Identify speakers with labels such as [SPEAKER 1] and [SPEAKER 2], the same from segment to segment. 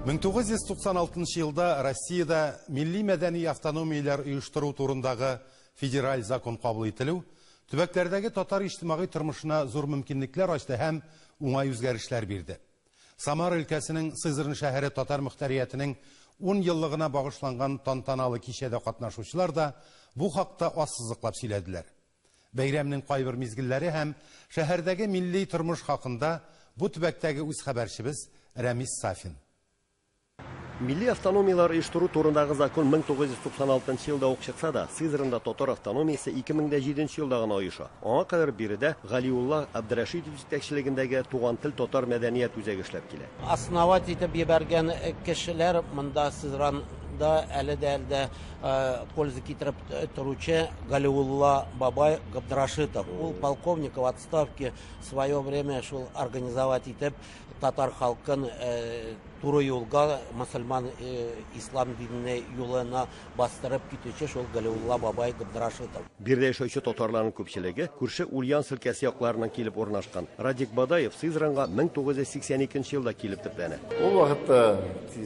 [SPEAKER 1] 1996 нчы елда Россиядә милли мәдәни автономияләр оештыру турындагы федераль закон кабул ителү төбәкләрдәге татар иҗтимагый тормышына зур мөмкинлекләр ачты һәм уңай үзгәрешләр бирде. Самара өлкәсенең Сызрань шәһәре татар мөхтәриятенең ун еллыгына багышланган тантаналы кичәдә катнашучылар да бу хакта ассызыклап сөйләделәр. Бәйрәмнең кайбер мизгелләре һәм шәһәрдәге милли тормыш хакында бу төбәктәге үз хәбәрчебез Рәмис Сафин.
[SPEAKER 2] Милли автономияләр оештыру турындагы закон 1996 нчы елда ук чыкса да, Сызранда татар автономиясе 2007 нчы елда гына оеша. Аңа кадәр биредә Галиулла Абдрәшитов җитәкчелегендәге Туган тел татар мәдәният үзәге эшләп килә. Основать итеп
[SPEAKER 3] җибәргән кешеләр монда Сызранда әле дә әле дә э, польза китереп э, торучы Галиулла бабай Габдрашитов. Ул полковник в отставке в свое время шул организовать итеп татар халкын э, туры юлга мусульман ислам диненә юлына бастырып китүче шул Галиулла бабай Габдрашитов. Биредә яшәүче
[SPEAKER 2] татарларның күпчелеге күрше Ульян өлкәсе якларыннан килеп урнашкан. Радик Бадаев Сызранга 1982 елда килеп төпләнә. Ул вакытта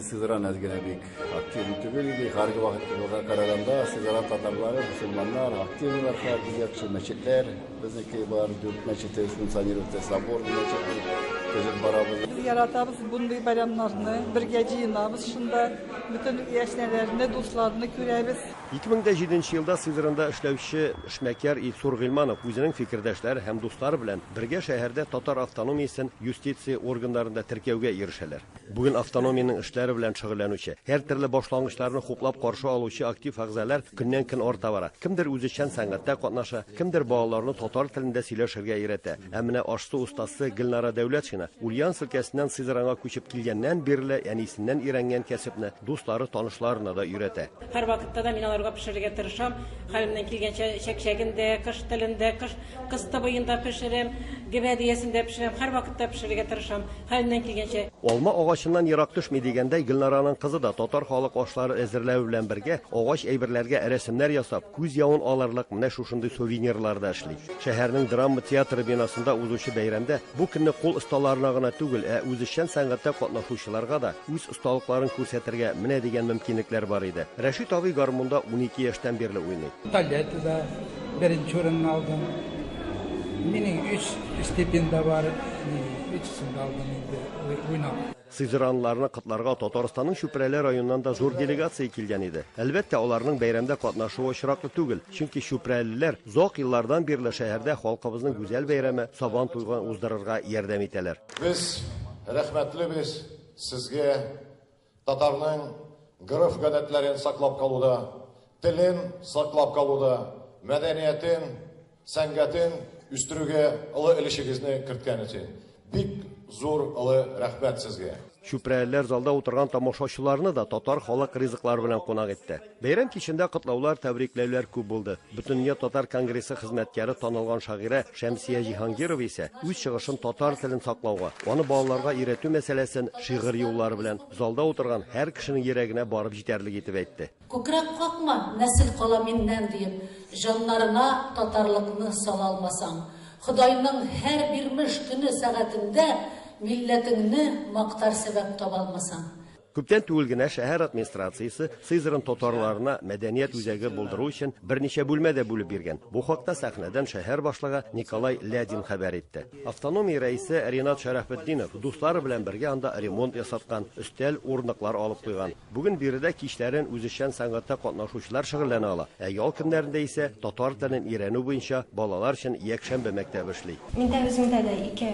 [SPEAKER 4] Сызран әз генә бик Активный түгел иде, хәрби вакытка караганда, сигара татарлары, мусульманнар, активныйлар хәрби яхшы мәчетләр, безнеке бар, дүрт мәчете функционировать, собор мәчете, төзеп барабыз. Без
[SPEAKER 5] яратабыз бундый бәйрәмнәрне, бергә җыенабыз шунда, бөтен яшьнәләрне, дусларны күрәбез. 2007
[SPEAKER 2] елда Сызранда эшләүче эшмәкәр Илсур Гыйльманов үзенең фикердәшләре һәм дуслары белән бергә шәһәрдә татар автономиясен юстиция органнарында теркәүгә ирешәләр. Бүген автономиянең эшләре белән шөгыльләнүче, һәртөрле башлангычларны хуплап каршы алучы актив әгъзалар көннән-көн арта бара. Кемдер үзешчән сәнгатьтә катнаша, кемдер балаларны татар телендә сөйләшергә өйрәтә. Ә менә аш-су остасы Гөлнара Дәүләтшина, Ульяновск өлкәсеннән Сызранга күчеп килгәннән бирле, әнисеннән өйрәнгән кәсепне дуслары, танышларына да өйрәтә. Һәрвакытта да мин
[SPEAKER 6] аларга пешерергә тырышам. Хәлемнән килгәнчә чәкчәген дә, кыш телен дә, кыш кыз тыбыен да пешерәм, гөбә дөясен дә пешерәм. Һәрвакытта пешерергә тырышам, хәлемнән килгәнчә. Алма агачыннан
[SPEAKER 2] ерак төшми дигәндәй, Гөлнараның кызы да татар халык ашлары әзерләве белән бергә, агач әйберләргә рәсемнәр ясап, күз явын алырлык менә шушындый сувенирлар да эшли. Шәһәрнең драма театры бинасында узучы бәйрәмдә бу көнне кул осталарына гына түгел, ә үзешчән сәнгатьтә катнашучыларга да үз осталыкларын күрсәтергә менә дигән мөмкинлекләр бар иде. Рәшит абый гармунда унике яшьтән бирле уйный. Балетта
[SPEAKER 7] беренче урынны алдым. Минем өч степень дә бар, өчесен дә алдым инде уйнап. Сызранлыларны
[SPEAKER 2] котларга Татарстанның Чүпрәле районыннан да зур делегация килгән иде. Әлбәттә, аларның бәйрәмдә катнашуы очраклы түгел, чөнки чүпрәлеләр озак еллардан бирле шәһәрдә халкыбызның гүзәл бәйрәме, Сабантуйгын уздырырга ярдәм итәләр. Без
[SPEAKER 8] рәхмәтле без. Сезгә татарның гореф-гадәтләрен саклап калуда, телен саклап калуда, мәдәниятен, сәнгатен үстерүгә олы өлешегезне керткән өчен бик зур олы рәхмәт сезгә. Чүпрәлеләр залда
[SPEAKER 2] утырган тамашачыларны да татар халык ризыклары белән кунак итте. Бәйрәм кичендә котлаулар, тәбрикләүләр күп булды. Бөтендөнья татар конгрессы хезмәткәре танылган шагыйрә Шәмсия Җиһангирова исә үз чыгышын татар телен саклауга, аны балаларга өйрәтү мәсьәләсен шигырь юллары белән залда утырган һәр кешенең йөрәгенә барып җитәрлек итеп әйтте. Күкрәк какма,
[SPEAKER 9] нәсел кала миннән, диеп, җаннарына татарлыкны сала алмасаң, Ходайның һәр бирмеш көне-сәгатендә милләтеңне мактар сәбәп таба алмасаң, Күптән түгел генә
[SPEAKER 2] шәһәр администрациясе Сызран татарларына мәдәният үзәге булдыру өчен берничә бүлмә дә бүлеп биргән. Бу хакта сәхнәдән шәһәр башлыгы Николай Лядин хәбәр итте. Автономия рәисе Ринат Шәрәфетдинов дуслары белән бергә анда ремонт ясаткан, өстәл, урындыклар алып куйган. Бүген биредә кичләрен үзешчән сәнгатьтә катнашучылар шөгыльләнә ала, ә ял көннәрендә исә татар телен өйрәнү буенча балалар өчен якшәмбе мәктәбе эшли. Миндә үземдә дә
[SPEAKER 10] ике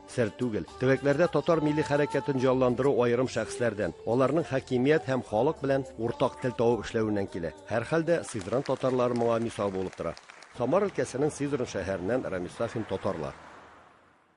[SPEAKER 11] Сер түгел,
[SPEAKER 2] төбәкләрдә татар милли хәрәкәтен җанландыру аерым шәхесләрдән, аларның хакимият һәм халык белән уртак тел табып эшләвеннән килә. Һәрхәлдә, Сызран татарлары моңа мисал булып тора. Самар өлкәсенең Сызран шәһәреннән Рамис Сафин татарлар.